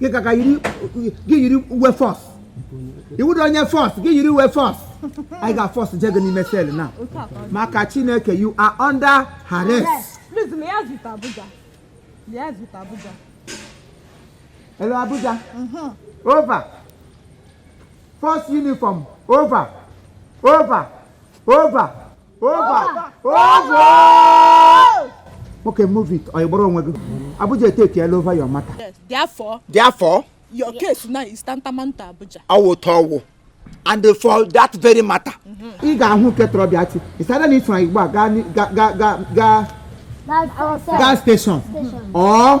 gị ka ka yiri gị yiri uwe force ị wụdị onye force gị yiri uwe force anyị ga-aforce je gị n'ime cell now maka chineke you are under arrest Please, liaise with Abuja. Liaise with Abuja. hello abuja over force uniform over over over Over! Over! Okay, move it. Ọ gbara onwe gị. Abuja etekiela over your matter. Yes, therefore. Therefore. Your case now is tantamount to Abuja. Ọ wụ otu ọ wụ. And for that very matter. Ị ga-ahụ nke tọrọ bịa ti. Is either na ị from Igbo a gaa gaa gaa gaa gaa station. Or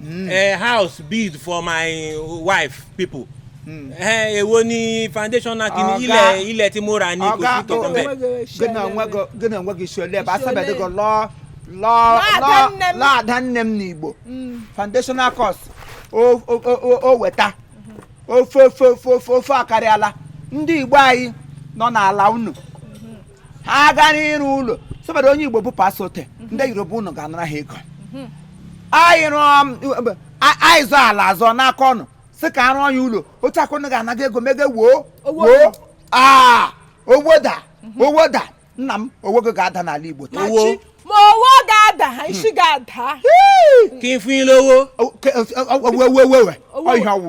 mm. a house built for my wife people hmm. eh, èwo ni foundation náà kìíní ilẹ̀ ilẹ̀ tí mo rà ní kò sí kankan bẹ́ẹ̀. gị n'onwe gị si ole ebe asabedị gị lụọ lụọ lụọ ada nne m n'igbo hmm. foundational cost o weta ofe ofe ofe ofe akarịala ndị igbo anyị nọ n'ala unu ha gaa n'ịrụ ụlọ sọbara onye igbo bụ pasote mhm. ndị yoruba unu ga-anara ha ego mhm. anyị rụọ um, anyị zụọ ala azụ n'aka unu sị ka a rụọ na ya ụlọ otu a ka unu ga-anaga ego mege woo woo aa owo da mhm. owo da nna m owo gị ga-ada n'ala igbo taa ma owo ga-ada ha isi ga-ada kí n fún yín lówó owewewe ọhịa ọwụ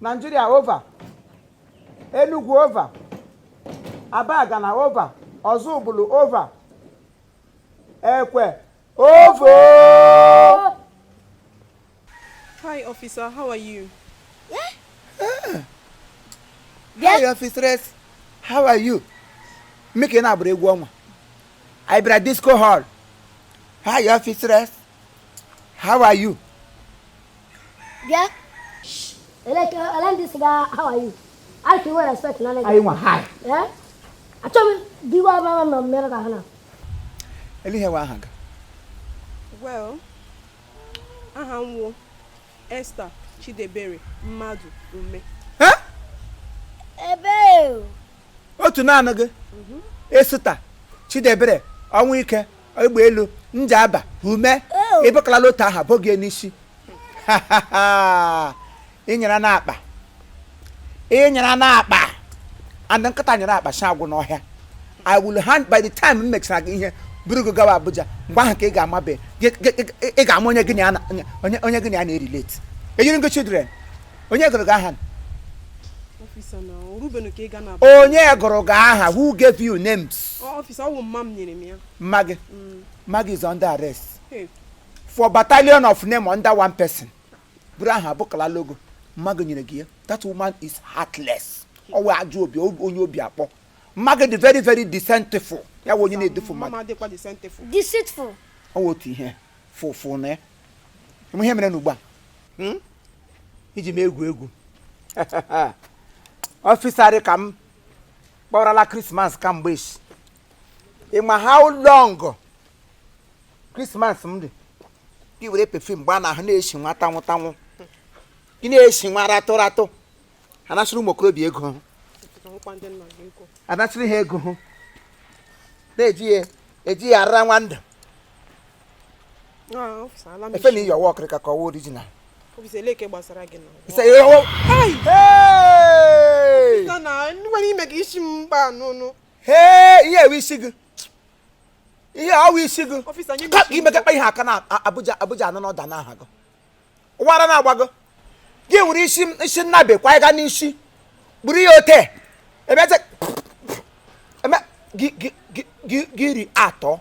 Nigeria over Enugu over Abagana over Ọzụbụlụ over Ekwe over Hi officer, how are you? Eh? Eh. Hi officer, how are you? Make an abre egwu ọnwa. I bra disco hall. Hi officer. How are you? Bịa. Eleke, ele ndị ị sịga how are you? Ị ka nwere respect na nga a. Anyị nwa hi. Eh? Achọ m di wa ma ma mere ka ha na. Ele ihe wụ aha gị. Well, aha m wụ. Esther Chidebere Madụ Ume otu naanị gị mhm. Esther Chidebere Ọnwụike Egbelu Njaba Ume e bukalala otu aha bo gị n'isi ị nyara n'akpa ị nyara n'akpa and nkịta nyara akpa nsị agwụ n'ọhịa i will hand by the time m mechara gị ihe buru gị gawa abuja mgbe ahụ ka ị ga-amabe gị- gị- gị- ị ga-ama onye gị na ya na- onye- onye onye gị na ya na-erelate enyere gị children onye gụrụ gị aha officer na orubenu ka ị ga na onye gụrụ gị aha who gave you names officer ọ bụ mma m nyere m ya mma gị mma gị is under arrest Hey, for battalion of name under one person buru aha abụkala logo Magi nyere gị ya that woman is heartless ọ wụ ajọ obi onye obi akpọ Magi dị very very deceitful ya wụ onye na-edufu mmadụ deceitful ọ wụ otu ihe fụfụ na ya ihe mere n'ugbu a hmm? i ji m egwu egwu ọfịsarị ka m kpọrọla krismas kamgbe echi ị ma how long krismas m dị gị were perfume gbaa n'ahụ na-esi nwa tanwụ tanwụ gị na-esi nwa ratụ ratụ anasịrị ụmụ okorobịa ego hụ anasịrị ha ego hụ na-eji ya eji ya ara nwa ndụ efe na i yi ọ wụ ọkịrịka ka ọ wụ original ihe a wụ isi gị ihe a wụ isi gị Ọfịsa, nye m ka isi gị. i mekakpa ihe aka na A- abuja abuja anọ n'ọda n'aha gị ọ wụ ara na-agba gị gị were isi isi nnabe kwa ịga n'isi kpuru ya ote ebete eme gị gị- gị- gị- gị iri atọ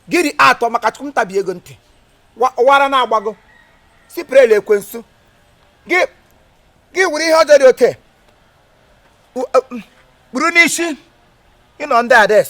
gị iri atọ maka chukwu m tabie gị ntị Wa- ọ wụ ara na-agba gị siprel ekwensu gị gị were ihe ọjọọ dị ote U- uh, mm, kpuru n'isi ị nọ ndị ades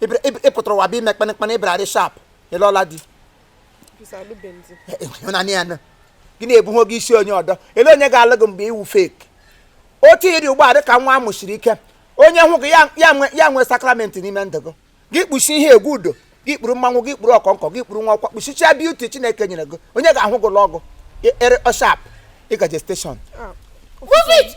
Ị bịara- ịb- ị pụtara ụwa bụ ime kpanịkpanị ị bịararị sharp ị lụọla di Ọfịsa alụbeghị. ị hụna ya nụ. gị na-ebu wig isi onye ọdọ ele onye ga-alụ gị mgbe ị wụ fake otu ị rị ugbu a dị ka nwa a mụsiri ike onye hụ gị ya- ya nwe- ya nwee sakramenti n'ime ndụ gị gị kpuchi ihe egwu udo gị kpuru mmanwụ gị kpuru ọkọnkọ gị kpuru nwa ọkwa kpuchichaa beauty chineke nyere gị onye ga-ahụ gị lụọ gị ere ọ sharp ị gaje station Ah, Move it!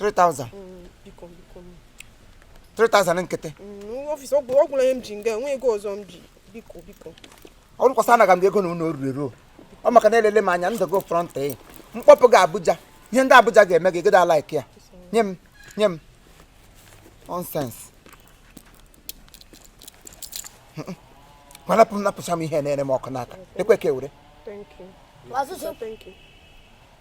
3000 mm, biko biko 3000 nkịtị mm, ọfịsa ọ gwụla ihe m ji nga a enwe ego ọzọ m ji biko biko ọ bụrụkwa sị anaga m ego na unu oruru eruo ọ maka na elele m anya ndụ gị front e m kpọpụ gị abuja ihe ndị abuja ga-eme gị gịda like ya nye m nye m nonsense gwarapụ m napụcha m ihe na-ere m ọkụ n'aka ekwe ka ewere Thank you. Thank you.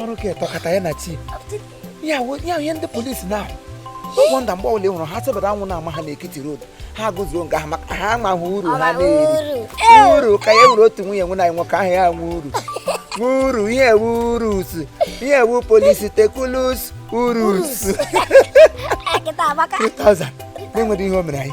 ọrụ ka etọkata ya na chi ya ihe ndị polisi na-ahụ ọ wụ nda mgbe ọbụla ị hụrụ ha tebata anwụ na-ama ha n'ekiti road ha guzoro nga ahụ maka ha amaghị uru ha na-eri uru ka ya nwere otu nwunye nwe na nwoke ahụ ya nwe uru uru ihe ewu urus ihe ewu polisi tekulus urus 3000 na-enweghị ihe o mere anyị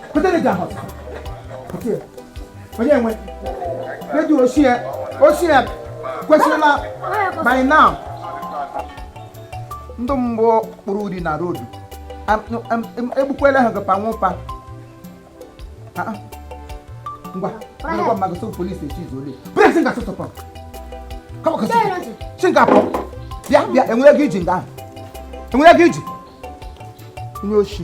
onye nwe redio ochie ochie kwesịrịla by now ndị mbụ kpụrụ uri na road egbukwela ha gapa nwụpa ah, ah. ngwa ngwa mmadụ so polisi echi izu ole bresi nga sụtụpọ Singapore bịa bịa enwere gị iji nga ahụ enwere gị iji onye oshi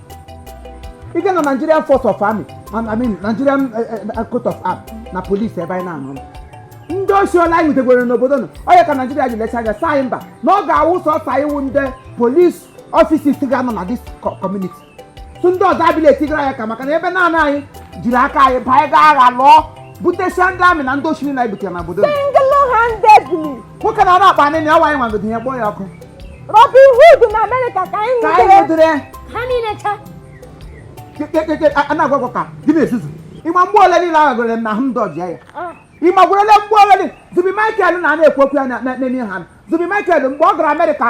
ị ga na Nigerian Force of Army I mean Nigerian eh, eh, eh, Coat of Arm na polisi ebe anyị na-anụ ndị osi ọla anyị nwetagwere n'obodo nọ onye ka Naijiria ji lecha anya saa mba na ọ ga-awụ sọsa iwu ndị police officers ga-anọ na this community tụ ndị ọzọ abịla etigara ya ka maka na ebe naanị anyị jiri aka anyị baa anyị gaa agha lụọ butesia ndị army na ndị osimiri na-ebutere na obodo nwoke na-ara akpa nne na ya nwaanyị nwagodo ya kpọọ ya ọkụ Robin Hood na Amerịka ka anyị nwụdere ha niile cha a na-agwagwọ ka gị na-ezuzu ị ma mgbe ole niile ahụ gụrere m na ahụ m dọjia ya ah. ịma gwerele mgbe ole Zubby Michael a na-ekwu okwu ya n'ime ha Zubby Michael mgbe ọ gara Amerịka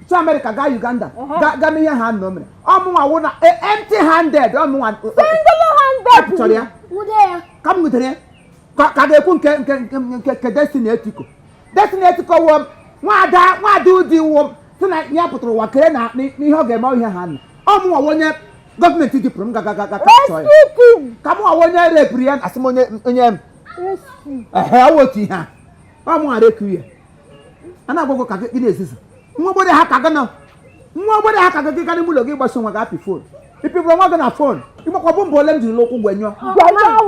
chi Amerịka gaa Uganda ga mee ihe ha nọ mere ọ mụnwa wụ na e, empty handed ọ mụnwa chọrọ ya ka m nwutere ya ka ga-ekwu nke nke nke Destiny Etiko Destiny Etiko wụ nwada nwada ụdị iwu m sị na ya pụtara ụwa kere na n'ihe ọ ga-eme ihe ha nọ ọ mụnwa onye gọọmenti jipụrụ m gagagaga ka mụnwa onye repụrụ ya asị m onye onye m ehe ọ wụ otu ihe a ọ mụnwa reku ya a na-agwagwọ ka gị na-ezuzu nwa ogbede ha ka gị nọ nwa ogbede ha ka gị gaa n'ime ụlọ gị ị gbasa onwe gị apị fon ị pịgburu onwe gị na fon ị makwa bọmbụ ole m jiri n'ụkwụ gwenyụọ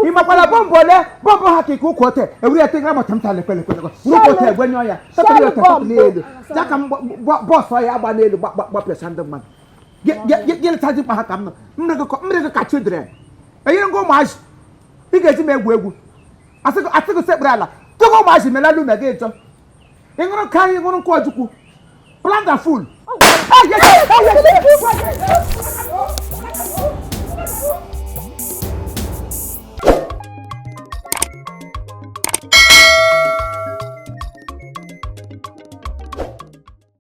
ị makwara bọmbụ ole bọmbụ ha ka ike ụkwụ ote ewere ya tegara mata mta lekpelekpelekọ ụkwụ ote egwenyụọ ya tepụrụ ya tepụrụ n'elu ya ka bọọsụ ọ ya-agba n'elu gbapịasa ndị mmadụ gị leta dimkpa ha ka m nọ m yiri gị ka children enyere ngwa ụmụazị ị ga-eji m egwu egwu asị gị sekpere ala tụgụ ụmụazị melalụ na gị ịchọ ị ṅụrụ ka anyị ṅụrụ nkwụ ojukwu plant and fool